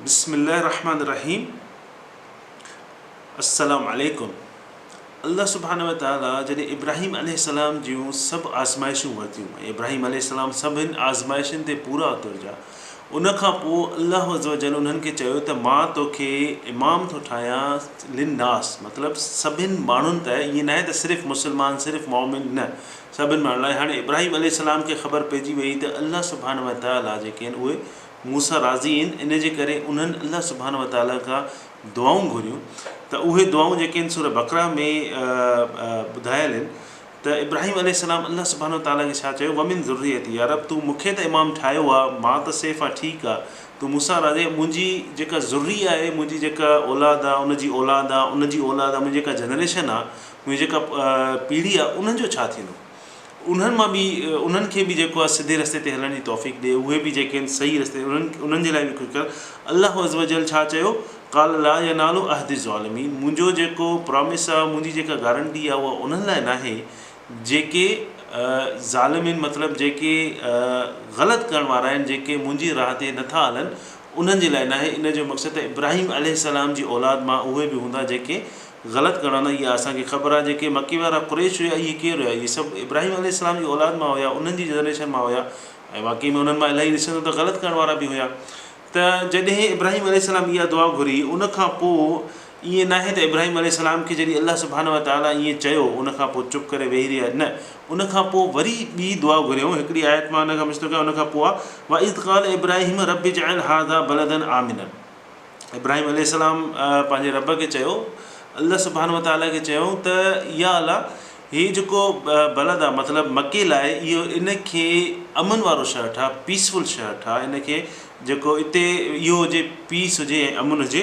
بسم الله الرحمٰن الرحيم السلام عليڪم الله سبحانه وتعالٰي جڏهن ابراهيم عليه السلام جون سڀ آزمائشون ورتيون ۽ ابراهيم عليه السلام سڀن آزمائشن تي پورا اترجا ان کان پوء الله عزّوجلّ انهن کي چيو ته مان توکي امام ٿو ٺاهيان للنّاس مطلب سڀن ماڻهن ته ائين ناهي ته صرف مسلمان صرف مؤمن نه سڀني ماڻهن لاء هاڻي ابراهيم عليه السلام کي خبر پئجي ويئي ته الله سبحانه وتعاليٰ جيڪي آهن اهي مون سان راضي آهن ان جي ڪري انهن الله سبحانه وتعاليٰ کان دعائون گهريون ته اهي دعائون جيڪي آهن سوره بقره ۾ ٻڌايل آهن ته ابراهيم عليه السلام الله سبحانه وتعاليٰ کي ڇا چيو ومن ذريتي يا رب تون مون کي ته امام ٺاهيو آهي مان ته سيف آهيان ٺيڪ آهي تون مون سان راضي آهين منهنجي جيڪا ذريه آهي منهنجي جيڪا اولاد آهي ان جي اولاد آهي ان جي اولاد آهي منهنجي جيڪا جنريشن آهي ۾ جيڪا پيڙهي آ انهن جو ڇا ٿيندو انهن مان به انهن کي به جيڪو آ سڌي رستي تي هلڻ جي توفيق ڏي اهي به جيڪي آهن صحيح رستي انهن انهن جي لاء به ڪجهه ڪر الله عزّوجلّ ڇا چيو قال لا ينال عهد الظالمين منهنجو جيڪو پرامس آ منهنجي جيڪا گارنٽي آ اها انهن لاء ناهي جيڪي ظالمين مطلب جيڪي غلط ڪرڻ وارا آهن جيڪي منهنجي راهه تي نٿا هلن انهن جي لاء ناهي ان جو مقصد ته ابراهيم عليه السّلام جي اولاد مان اهي به هوندا جيڪي غلط ڪرڻ نه اها اسان کي خبر آهي جيڪي مڪي وارا قريش هيا اهي ڪير هيا اهي سڀ ابراهيم عليه السلام جي اولاد مان هيا انهن جي جنريشن مان هيا ۽ واقعي ۾ انهن مان الاهي ڏسندو ته غلط ڪرڻ وارا به هيا ته جڏهن ابراهيم عليه السلام اها دعا گهري ان کان پوء ائين ناهي ته ابراهيم عليه السلام کي جڏهن الله سبحانه وتعالي ائين چيو ان کان پوء چپ ڪري ويهي رهيا نه ان کان پوء وري ٻي دعا گهريائون هڪڙي آيت مان ان کان مشتق آهي ان کان پوء آهي واذ قال ابراهيم رب اجعل هذا بلدا آمنا. ابراهيم عليه السلام پنهنجي رب کي چيو، الله سبحانه وتعالٰي کي چيائون ته يا الله! هي جيڪو بلد آهي مطلب مڪي لاء اهو ان کي امن وارو شهر ٺاهه، Peaceful، شهر ٺاهه ان کي جيڪو اتي اهو هجي Peace هجي ۽ امن هجي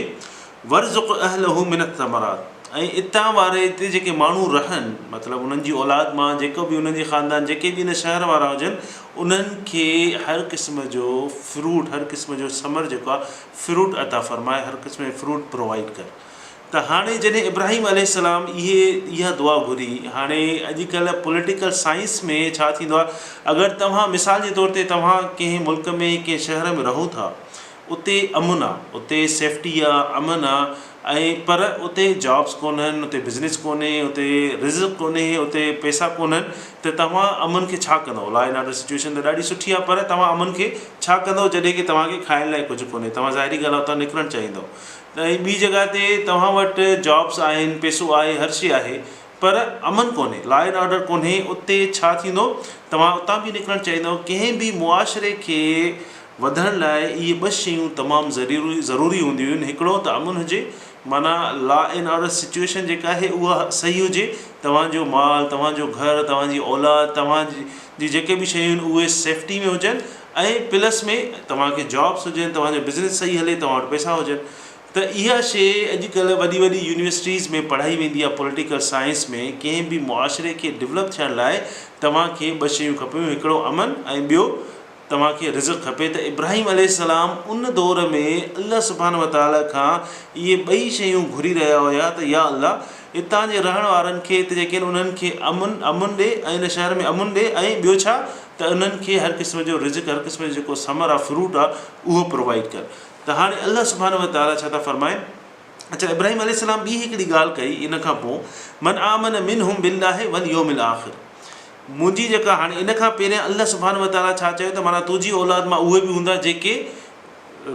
وارزق اهله من الثمرات ۽ اتان واري اتي جيڪي ماڻهو رهن مطلب انهن جي اولاد مان جيڪو به انهن جي خاندان جيڪي به ان شهر وارا هجن انهن کي هر قسم جو Fruit هر قسم جو ثمر جيڪو آهي فروٽ عطا فرماء، هر قسم جي فروٽ پرووائيڊ ڪر. ته هاڻي جڏهن ابراهيم عليه السلام اهي اها دعا گهري، هاڻي اڄ ڪلهه پوليٽيڪل سائنس ۾ ڇا ٿيندو آهي اگر توهان مثال جي طور تي توهان ڪنهن ملڪ ۾ ڪنهن شهر ۾ رهو ٿا اتي امن آ، اتي سيفٽي آ، امن آ، ۽ پر اتي جابس ڪونهن اتي بزنس ڪونهي اتي رزق ڪونهي اتي پئسا ڪونهن ته توهان امن کي ڇا ڪندو لا اينڊ آرڊر سچوئيشن ته ڏاڍي سٺي آهي پر توهان امن کي ڇا ڪندو جڏهن کي توهان کي کائڻ لاء ڪجهه ڪونهي توهان ظاهري ڳالهه اتان نڪرڻ چاهيندو ۽ ٻي جڳهه تي توهان وٽ جابس آهن پئسو آهي هر شي آهي پر امن ڪونهي لا اينڊ آرڊر ڪونهي اتي ڇا ٿيندو توهان اتان به نڪرڻ چاهيندو ڪنهن به معاشري کي وڌڻ لاء اهي ٻه شيون تمام ضروري هونديون آهن هڪڙو ته امن هجي معنيٰ لا اينڊ آرڊر سچوئيشن جيڪا آهي اها صحيح هجي توهان جو مال توهان جو گهر توهان جي اولاد توهان جي جيڪي به شيون آهن اهي سيفٽي ۾ هجن ۽ پلس ۾ توهان کي جابس هجن توهان جو بزنس صحيح هلي توهان وٽ پئسا هجن ته اها شي اڄ ڪلهه وڏي وڏي يونيورسٽيز ۾ پڙهائي ويندي آهي پوليٽيڪل سائنس ۾ ڪنهن به معاشري کي ڊولپ ٿيڻ لاء توهان کي ٻه شيون کپيون هڪڙو امن ۽ ٻيو توهان کي رزق کپي ته ابراهيم عليه السلام ان دور ۾ الله سبحانه وتعالٰي کان اهي ٻئي شيون گهري رهيا هيا ته يا الله هتان جي رهڻ وارن کي ته يقينن انهن کي امن امن ڏي ۽ ان شهر ۾ امن ڏي ۽ ٻيو ڇا ته انهن کي هر قسم جو رزق هر قسم جو جيڪو ثمر آ فروٽ آ اهو پرووائيڊ ڪر ته هاڻي الله سبحانه وتعالٰي ڇا ٿا فرمائن اڇا ابراهيم عليه السلام ٻي هڪڙي ڳالهه ڪئي ان کان پو من آمن منهم بالله واليوم الاخر منهنجي جيڪا هاڻي ان کان پهريان الله سبحانه وتعالٰي ڇا چيو ته معنيٰ تنهنجي اولاد مان اهي به هوندا جيڪي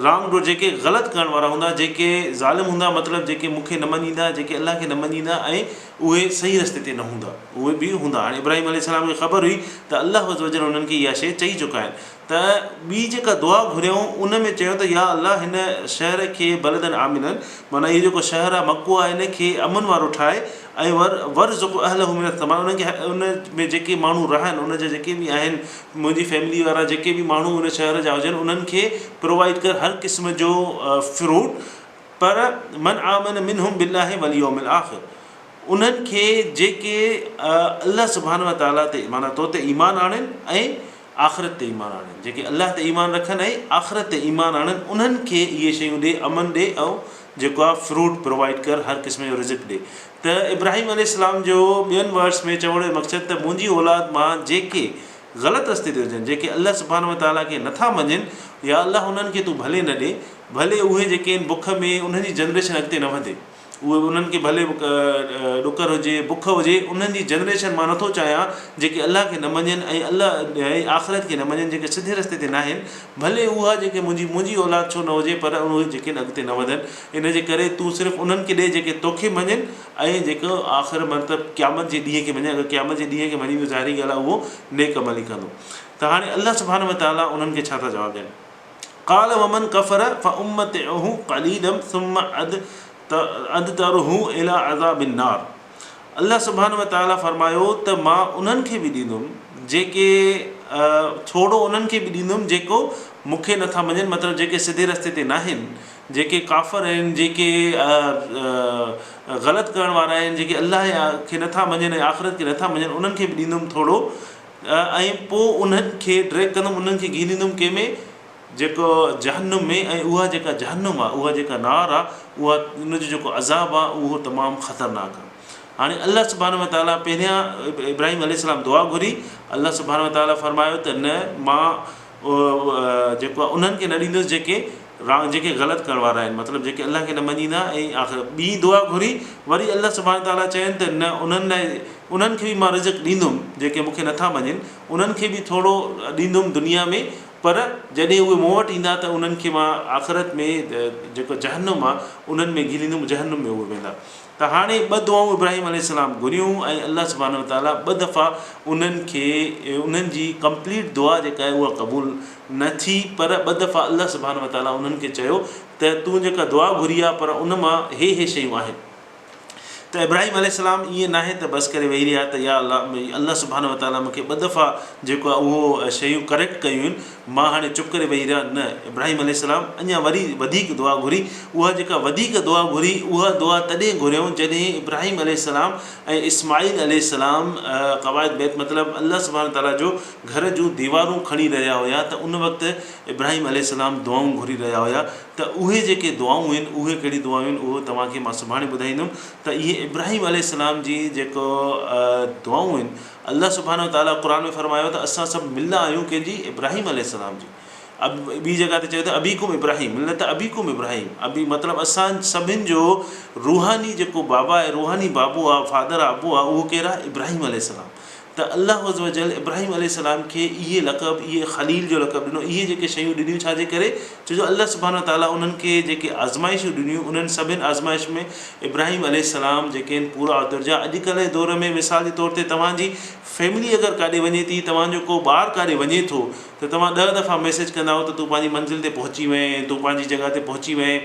رانگ ڊو جيڪي غلط ڪرڻ وارا هوندا جيڪي ظالم هوندا مطلب جيڪي مون کي نه مڃيندا جيڪي الله کي نه مڃيندا ۽ اهي صحيح رستي تي نه هوندا اهي به هوندا هاڻي ابراهيم عليه السلام کي خبر هئي ته الله عزّ وجلّ انهن کي اها شيء چئي چڪا آهن ته ٻي جيڪا دعا گهريائون ان ۾ چيو ته يا الله هن شهر کي بلدا آمنا معنيٰ اهو جيڪو شهر آهي مڪو آهي ان کي امن وارو ٺاهه ۽ ور ورزق اهله من الثمرات انهن کي ان ۾ جيڪي ماڻهو رهن ان جا جيڪي به آهن منهنجي فيملي وارا جيڪي به ماڻهو ان شهر جا هجن انهن کي پرووائيڊ ڪر هر قسم جو فروٽ پر من آمن منهم بالله واليوم الاخر انهن کي جيڪي الله سبحانه وتعالٰي تي معنيٰ تو تي ايمان آڻين ۽ آخرت تي ايمان آڻين، جيڪي الله تي ايمان رکن ۽ آخرت تي ايمان آڻن انهن کي اهي شيون ڏي، امن ڏي ۽ جيڪو آهي فروٽ پرووائيڊ ڪر، هر قسم جو رزق ڏي. ته ابراهيم عليه السلام جو ٻين ورس ۾ چوڻ جو مقصد ته منهنجي اولاد مان جيڪي غلط رستي تي هجن، جيڪي الله سبحانه وتعاليٰ کي نٿا مڃين، يا الله انهن کي تون ڀلي نه ڏي، ڀلي اهي جيڪي آهن بک ۾ انهن جي جنريشن اڳتي نه وڌي. اهي انهن کي ڀلي ڏڪر هجي، بک هجي، انهن جي جنريشن مان نٿو چاهيان جيڪي الله کي نه مڃين ۽ الله ۽ آخرت کي نه مڃين جيڪي سڌي رستي تي ناهن ڀلي اها جيڪي منهنجي منهنجي اولاد ڇو نه هجي پر اهي جيڪي اڳتي نه وڌن ان جي ڪري تون صرف انهن کي ڏي جيڪي توکي مڃين ۽ جيڪو آخر مطلب قيامت جي ڏينهن کي مڃين اگر قيامت جي ڏينهن کي مڃيندو ظاهري ڳالهه آهي اهو نيڪ عمل ئي ڪندو ته هاڻي الله سبحانه وتعالٰي انهن کي ڇا ٿا جواب ڏين قال ومن ڪفر فامتعه قليلا ثم ادتره الي عذاب النار الله سبحانه وتعالي فرمايو ته مان انهن کي به ڏيندم جيڪي ٿورو انهن کي به ڏيندم جيڪو مون کي نٿا مڃن مطلب جيڪي سڌي رستي تي ناهن جيڪي ڪافر آهن جيڪي غلط ڪرڻ وارا آهن جيڪي الله کي نٿا مڃن ۽ آخرت کي نٿا مڃن انهن کي به ڏيندم ٿورو ۽ پوء انهن کي ڊريگ ڪندم انهن کي گهيريندم ڪنهن ۾ جيڪو جهنم ۾ ۽ اها جيڪا جهنم آهي اها جيڪا نار آهي اها ان جو جيڪو عذاب آهي اهو تمام خطرناڪ آهي هاڻي الله سبحانه وتعالٰي پهريان ابراهيم عليه السلام دعا گهري الله سبحانه وتعالٰي فرمايو ته نه مان جيڪو آهي انهن کي نه ڏيندس جيڪي رانگ جيڪي غلط ڪرڻ وارا آهن مطلب جيڪي الله کي نه مڃيندا ۽ آخر ٻي دعا گهري وري الله سبحانه تعالٰي چين ته نه انهن لاء انهن کي به مان رزق ڏيندم جيڪي مونکي نٿا مڃين انهن کي به ٿورو ڏيندم دنيا ۾ پر جڏهن اهي مون وٽ ايندا ته انهن کي مان آخرت ۾ جيڪو جهنم آهي انهن ۾ گهليندم جهنم ۾ اهي ويندا ته هاڻي ٻه دعائون ابراهيم عليه السلام گهريون ۽ الله سبحانه وتعاليٰ ٻه دفعا انهن کي انهن جي ڪمپليٽ دعا جيڪا آهي اها قبول نه ٿي پر ٻه دفعا الله سبحانه وتعاليٰ انهن کي چيو ته تون جيڪا دعا گهري آهي پر ان مان هي هي شيون آهن ته ابراهيم عليه السلام ائين ناهي ته بس ڪري ويهي رهيا ته يا الله الله سبحانه وتعاليٰ مون کي ٻه دفعا جيڪو آهي اهو شيون ڪريڪٽ ڪيون آهن مان هاڻي چپ ڪري ويهي رهان؟ نه. ابراهيم عليه السلام اڃا وري وڌيڪ دعا گهري. اها جيڪا وڌيڪ دعا گهري، اها دعا تڏهن گهريائون جڏهن ابراهيم عليه السلام ۽ اسماعيل عليه السلام قواعد بيت مطلب الله سبحانه تعاليٰ جو گهر جون ديوارون کڻي رهيا هيا ته ان وقت ابراهيم عليه السلام دعائون گهري رهيا هيا ته اهي جيڪي دعائون هين اهي ڪهڙي دعائون هين اهو توهان کي مان سڀاڻي ٻڌائيندم ته اهي ابراهيم عليه السلام جي جيڪو دعائون هين الله سبحانه وتعاليٰ قرآن ۾ فرمايو ته اسان سڀ مله آهيون ڪنهن جي؟ ابراهيم عليه السلام جي. ٻي جڳهه تي چيو ته ابيڪم ابراهيم ملة ابيڪم ابراهيم ابي مطلب اسان سڀن جو روحاني جيڪو بابا آهي روحاني بابو آهي فادر آهي ابو آهي اهو ڪير آهي؟ ابراهيم عليه السلام ته الله عزّوجلّ ابراهيم عليه السلام کي اهي لقب اهي خليل جو لقب ڏنو اهي جيڪي شيون ڏنيون ڇا جي ڪري؟ ڇو جو الله سبحانه وتعاليٰ انهن کي جيڪي آزمائشون ڏنيون انهن سڀني آزمائش ۾ ابراهيم عليه السلام جيڪي آهن پورا اترجا اڄ ڪلهه جي دور ۾ مثال جي طور تي توهان جي فيملي اگر ڪاڏي وڃي ٿي توهان جو ڪو ٻار ڪاڏي وڃي ٿو ته توهان ڏهه دفعا ميسيج ڪندا آهيو ته تون پنهنجي منزل تي پهچي وئين تون پنهنجي جڳهه تي پهچي وئين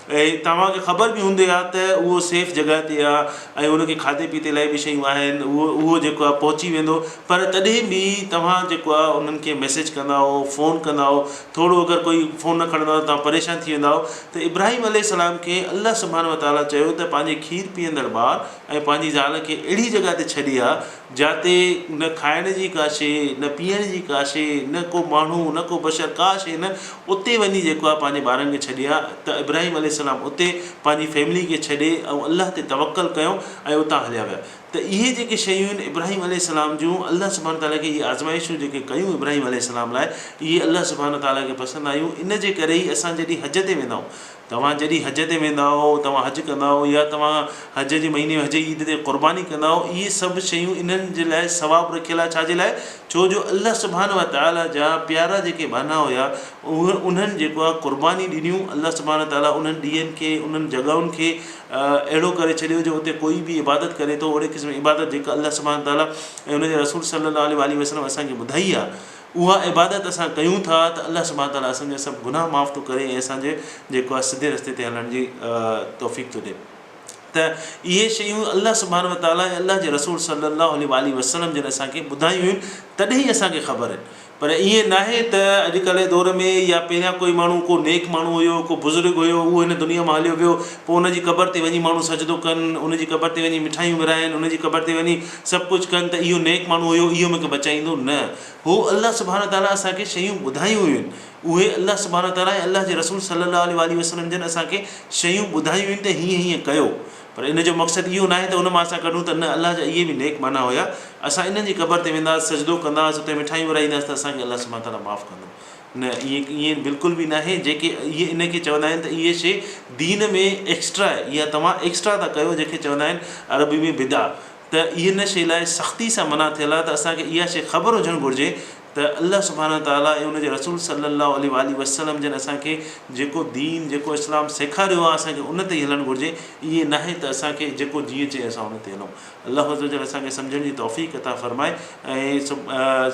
۽ توهان کي خبر به هوندي آ ته اهو سيف جڳهه تي آ ۽ ان کي کاڌي پيتي لاء به شيون آهن اهو جيڪو آ پهچي ويندو پر تڏهن به توهان جيڪو آ انهن کي ميسيج ڪندا آهو فون ڪندا آهو ٿورو اگر ڪوئي فون نه کڻندو آ ته توهان پريشان ٿي ويندا آهو ته ابراهيم عليه السلام کي الله سبحانه وتعالٰي چيو ته پنهنجي کير پيئندڙ ٻار ۽ پنهنجي زال کي اهڙي جڳهه تي ڇڏي آ جاتي نه کائڻ جي ڪا شيء، نه پيئڻ جي ڪا شيء، نه ڪو ماڻهو، نه ڪو بشر، ڪا شيء نه، اتي وڃي جيڪو آهي پنهنجي ٻارن کي ڇڏي آ، ته ابراهيم عليه السلام اتي پنهنجي فيملي کي ڇڏي ۽ الله تي توڪل ڪيو ۽ اتان هليا ويا. ته اهي جيڪي شيون آهن ابراهيم عليه السلام جون، الله سبحانه تعالٰي کي اهي آزمائشون جيڪي ڪيون ابراهيم عليه السلام لاء، اهي الله سبحانه تعالٰي کي پسند آيون، ان جي ڪري ئي اسان جڏهن حج تي ويندا آهيون توهان جڏهن حج تي ويندا آهو، توهان حج ڪندا آهو يا توهان حج جي مهيني ۾ حج جي عيد تي قرباني ڪندا آهو، اهي سڀ شيون انهن جي لاء ثواب رکيل آهي، ڇا جي لاء؟ ڇو جو الله سبحانه وتعاليٰ جا پيارا جيڪي ٻانها هيا اهي انهن جيڪو آهي قرباني ڏنيون، الله سبحانه وتعاليٰ انهن ڏينهن کي انهن جڳهن کي اهڙو ڪري ڇڏيو جو اتي ڪوئي به عبادت ڪري ٿو اهڙي قسم جي عبادت جيڪا الله سبحانه وتعاليٰ ۽ ان جي رسول صلّي اللّٰه عليه واٰله وسلّم اسان کي ٻڌائي آهي. اها عبادت اسان ڪيون ٿا ته الله سبحانه تعاليٰ اسان جا سڀ گناهه معاف ٿو ڪري ۽ اسان جي جيڪو آهي سڌي رستي تي هلڻ جي توفيق ٿو ڏئي ته اهي شيون الله سبحانه وتعاليٰ ۽ الله جي رسول صلّي الله عليه واٰله وسلّم جن اسان کي ٻڌايون هيون تڏهن ئي اسان کي خبر آهن پر ائين ناهي ته اڄڪلهه جي دور ۾ يا پهريان ڪوئي ماڻهو ڪو نيڪ ماڻهو هيو ڪو بزرگ هيو اهو هن دنيا مان هليو ويو پوء ان جي قبر تي وڃي ماڻهو سجدو ڪن ان جي قبر تي وڃي مٺايون ورهائن ان جي قبر تي وڃي سڀ ڪجهه ڪن ته اهو نيڪ ماڻهو هيو اهو مونکي بچائيندو نه هو الله سبحانه وتعاليٰ اسان کي شيون ٻڌايون هيون اهي الله سبحانه وتعاليٰ ۽ الله جي رسول صلي الله عليه واٰله وسلم جن اسان کي شيون ٻڌايون هيون ته هيئن هيئن ڪيو پر ان جو مقصد اهو ناهي ته ان مان اسان ڪڍون ته نه الله جا اهي به نيڪ ماڻها هيا اسان انهن جي قبر تي وينداس سجدو ڪنداس اتي مٺايون ورهائينداس ته اسان کي الله سبحانه وتعاليٰ معاف ڪندو نه ايئن ايئن بلڪل به ناهي جيڪي اهي ان کي چوندا آهن ته اهي شي دين ۾ ايڪسٽرا آهي يا توهان ايڪسٽرا ٿا ڪيو جنهن کي چوندا آهن عربي ۾ بدع ته اهي ان شي لاء سختي سان منع ٿيل آهي ته اسان کي اها شي خبر هجڻ گهرجي ته الله سبحانه تعالٰي ۽ ان جي رسول صلّي الله عليه واٰله وسلّم جن اسان کي جيڪو دين جيڪو اسلام سيکاريو آهي اسان کي ان تي ئي هلڻ گهرجي ايئن ناهي ته اسان کي جيڪو جيئن چئي اسان ان تي هلون. الله عزّوجلّ اسان کي سمجھڻ جي توفيق عطا فرمائي ۽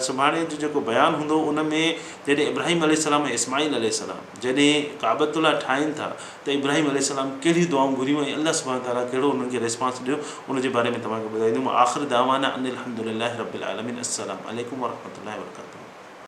سڀاڻي جو جيڪو بيان هوندو ان ۾ جڏهن ابراهيم عليه السّلام ۽ اسماعيل عليه السّلام جڏهن ڪعبة الله ٺاهين ٿا ته ابراهيم عليه السّلام ڪهڙيون دعائون گهريون ۽ الله سبحانه تعالٰي ڪهڙو انهن کي ريسپانس ڏنو ان جي باري ۾ توهان کي ٻڌائيندوم واخر دعوانا ان الحمد لله رب العالمين السّلام عليڪم ورحمة الله وبرڪاته.